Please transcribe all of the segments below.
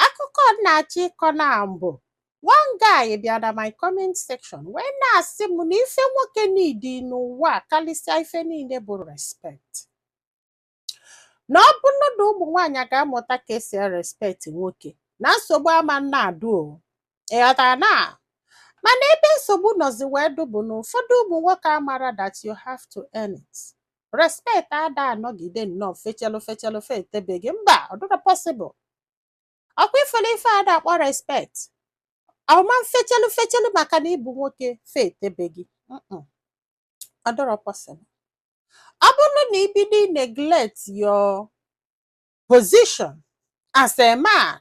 akụkọ m na-achọ ịkọ na mbụ one guy bịa na my comment section wee na-asị m na ife nwoke need n'ụwa karịsịa ife niile bụ respect na ọ bụrụ na ụmụ nwaanyị ga-amụta ka e si erespect nwoke na nsogbu ama na-adụ o ị ghọtara na mana ebe nsogbu nọzi wee dụ bụ na ụfọdụ ụmụ nwoke amara that you have to earn it respect ada anọgide nnọọ fechelụ fechelụ fetebe gị mba ọ dịrọ possible ọ kwa ị fụlụ ife ada akpọ respect ọ ma fechelụ fechelụ maka na ị bụ nwoke fetebe gị Mm-mm. ọ dịrọ possible ọ bụrụ na i bido neglect your position as a man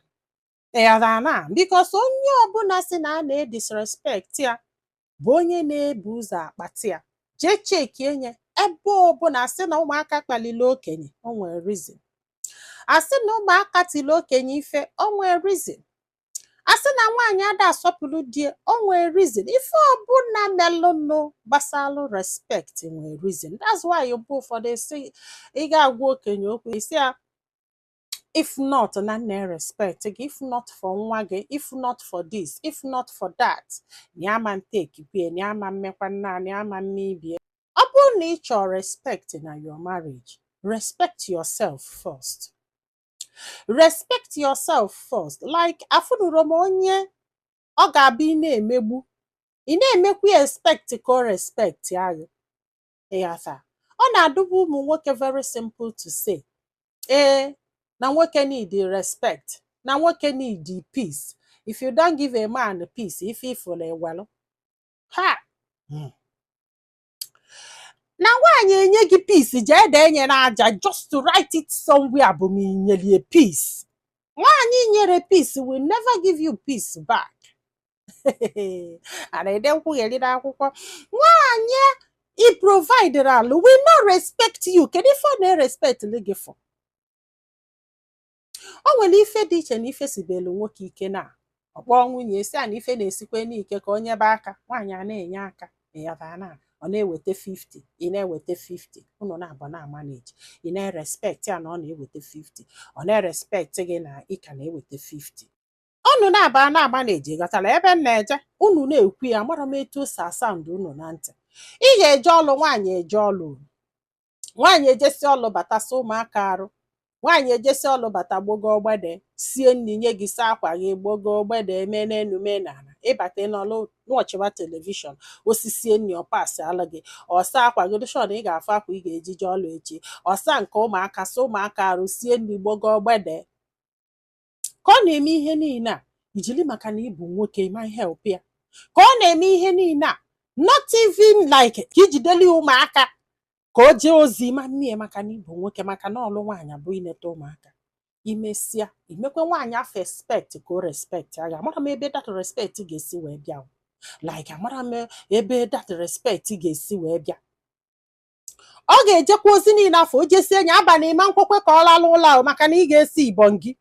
ị ghọtana because onye ọbụla sị na a na-edisrespect ya bụ onye na-ebu ụzọ akpata ya jee checkienụ ya ebe ọbụla a sị na ụmụaka kpalịlị okenye o nwere reason a sị na ụmụaka tiri okenye ife o nwere reason a sị na nwaanyị ada asọpụrụ di e o nwere reason ife ọbụla melụnụ gbasalụ respect nwere reason that's why mgbe ụfọdụ esi ị ga-agwa okenye okwu ị sị ya if not na m na-erespect gị if not for nwa gị if not for this if not for that na ama m take ife a na ama m emekwa nna na ama m eme ife a ọ bụrụ na ị chọọ respect na your marriage respect yourself first respect yourself first like afụnụrọ m onye ọ ga-abụ ị na-emegbu ị na-emekwa expect ka ọ respectịa gị ị ghọta ọ na-adụbu ụmụ nwoke very simple to say ee na nwoke need respect na nwoke need peace if you don't give a man peace ife ị fụlụ i welụ ha hmm. na nwaanyị enye gị peace jee dee nye n'aja just to write it somewhere bụ ma i nyere e peace nwaanyị i nyere peace will never give you peace back a na-ede nkwugheri n'akwụkwọ nwaanyị ị provideralụ will not respect you kedu ife ọ na-erespect gị for o nwere ife dị iche na ife sibelu nwoke ike na ọ kpọọ nwunye e sị a na ife na-esikwanụ ike ka o nyebe aka nwaanyị a na-enye aka ya bụ na ọ na-eweta 50 ị na-eweta 50 unu naabọ na-amanage ị na-erespect ya na ọ na-eweta 50 ọ na-erespect gị na ị ka na-eweta 50 unu naabọ na-amanage ị ghọtala ebe m na-eje unu na-ekwu ya amara m etu o si asound unu na ntị ị ga-eje ọlụ nwaanyị eje ọlụ nwaanyị ejesi ọlụ bata sa ụmụaka arụ nwaanyị ejesi ọlụ bata gbogo gbede sie nri nye gị saa akwa gị gbogo gbede mee n'enu mee n'ala ị bata n'ọlụ nọchiwa television o sisie nri ọ pasịalụ gị ọ saa akwa gị dụ sure na ị ga-afụ akwa ị ga-eji je ọlụ echi ọ saa nke ụmụaka sa ụmụaka arụ sie nri gbogo gbede ka ọ na-eme ihe niile a i jili maka na ị bụ nwoke ị ma help ya ka ọ na-eme ihe niile a not even like ka i jideli ụmụaka ka o jee ozi ị ma eme ya maka na ị bụ nwoke maka na ọlụ nwaanyị bụ ineta ụmụaka i mesịa i mekwe nwaanyị afụ expect ka o respect gị amarọ m ebe that respect ga-esi wee bịa like amarọ m ebe that respect ga-esi wee bịa ọ ga-ejekwa ozi niile afụ o jesie enyi abalị ị ma ekwekwa ka ọ lalụ ụla ahụ maka na ị ga-esi ibon gị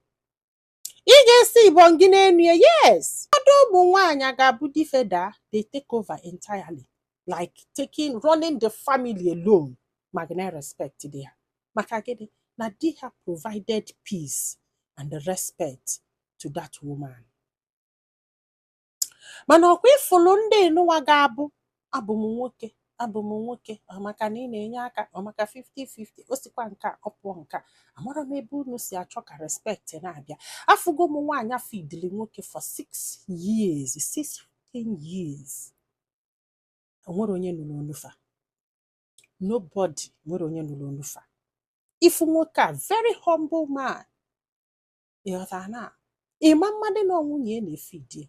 ị ga-esi ibon gị n'enu ya yes ụfọdụ ụmụ nwaanyị a ga-abụ di fa daa they take over entirely like taking running the family alone ma ka na-respect di ha maka gịnị na di ha provided peace and respect to that woman mana ọ kwa ị fụlụ ndị nunwa ga-abụ abụ m nwoke abụ m nwoke maka na ị na-enye aka maka 50-50 o sikwa nke a ọ pụọ nke a amarọ m ebe unu si achọ ka respect na-abịa afụgo m nwaanyị feedili nwoke for 6 years 16 years o nwerọ onye nụlụ ọnụ fa nobody o nwerọ onye nụlụ ọnụ fa ị fụ nwoke a very humble man ị ghọta na ị ma amadị na nwunye ya na-efeed ya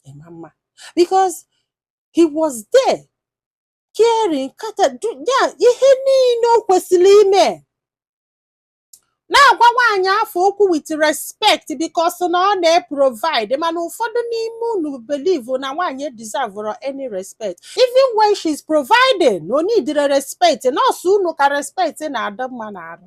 ị ma ama because he was there caring kata du- ya ihe niile o kwesịrị ime na-agwa nwaanyị afụ okwu with respect because na ọ na-eprovide mana ụfọdụ n'ime unu believe na nwaanyị deserverọ any respect even when she's providing na o needirọ respect na ọ sọ unu ka respect na-adị mma n'arụ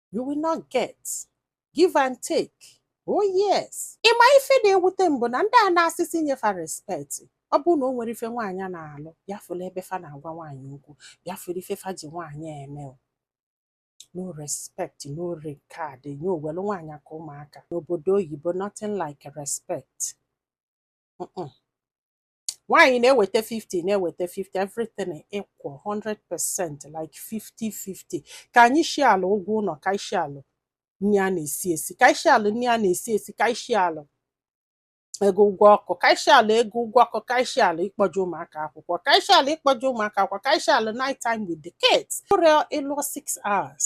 you will not get give and take oh yes ị ma ife na-ewute m bụ na ndị a na-asị sị nye fa respect ọ bụrụ na o nwere ife nwaanyị na-alụ bịa fụla ebe fa na-agwa nwaanyị okwu bịa fụla ife fa ji nwaanyị eme no respect no regard nye owelu nwaanyị aka ụmụaka n'obodo oyibo nothing like respect nwaanyị na-eweta 50 na-eweta 50 everything equal 100% like 50-50 ka anyị share ụgwọ ụlọ ka anyị share nri a na-esi esi ka anyị share nri a na-esi esi ka anyị share ego ụgwọ ọkụ ka anyị share ego ụgwọ ọkụ ka anyị share ịkpọje ụmụaka akwụkwọ ka anyị share ịkpọje ụmụaka akwụkwọ ka anyị share night time with the kids ụrịọ ị lụọ 6 hours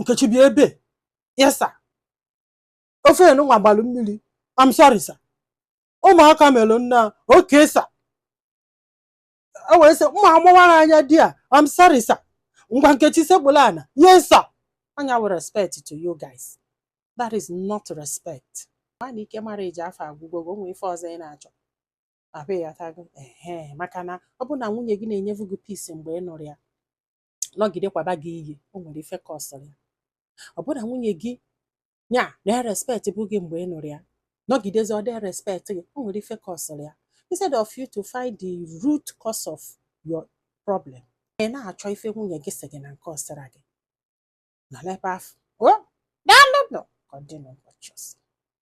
nkechi bịa ebe a yes sir ofe enunwa gbalụ mmiri I'm sorry sir ụmụaka melụ nna okay sir o wee sị mma amụwara anya di a I'm sorry sir ngwa nkechi sekpulu ana yes sir ọ nya wụ respect to you guys that is not respect mana ike marriage afụ agwụgo gị o nwe ife ọzọ ị na-achọ abịghị atago ehe maka na ọ bụ na nwunye gị na-enyevu gị peace mgbe ị nụrụ ya nọgide kwaba gị iyi o nwere ife causịrị ya ọ bụrụ na nwunye gị nya na-erespectbu gị mgbe ị nụrụ ya nọgidezi ọ dị erespect gị o nwere ife causịrị ya instead of you to find the root cause of your problem ị na-achọ ife nwunye gị sị gị na nke ọ sịrọ gị nọ n'ebe afụ o daalụ nụ ka ọ dị n'ụbọchị ọzọ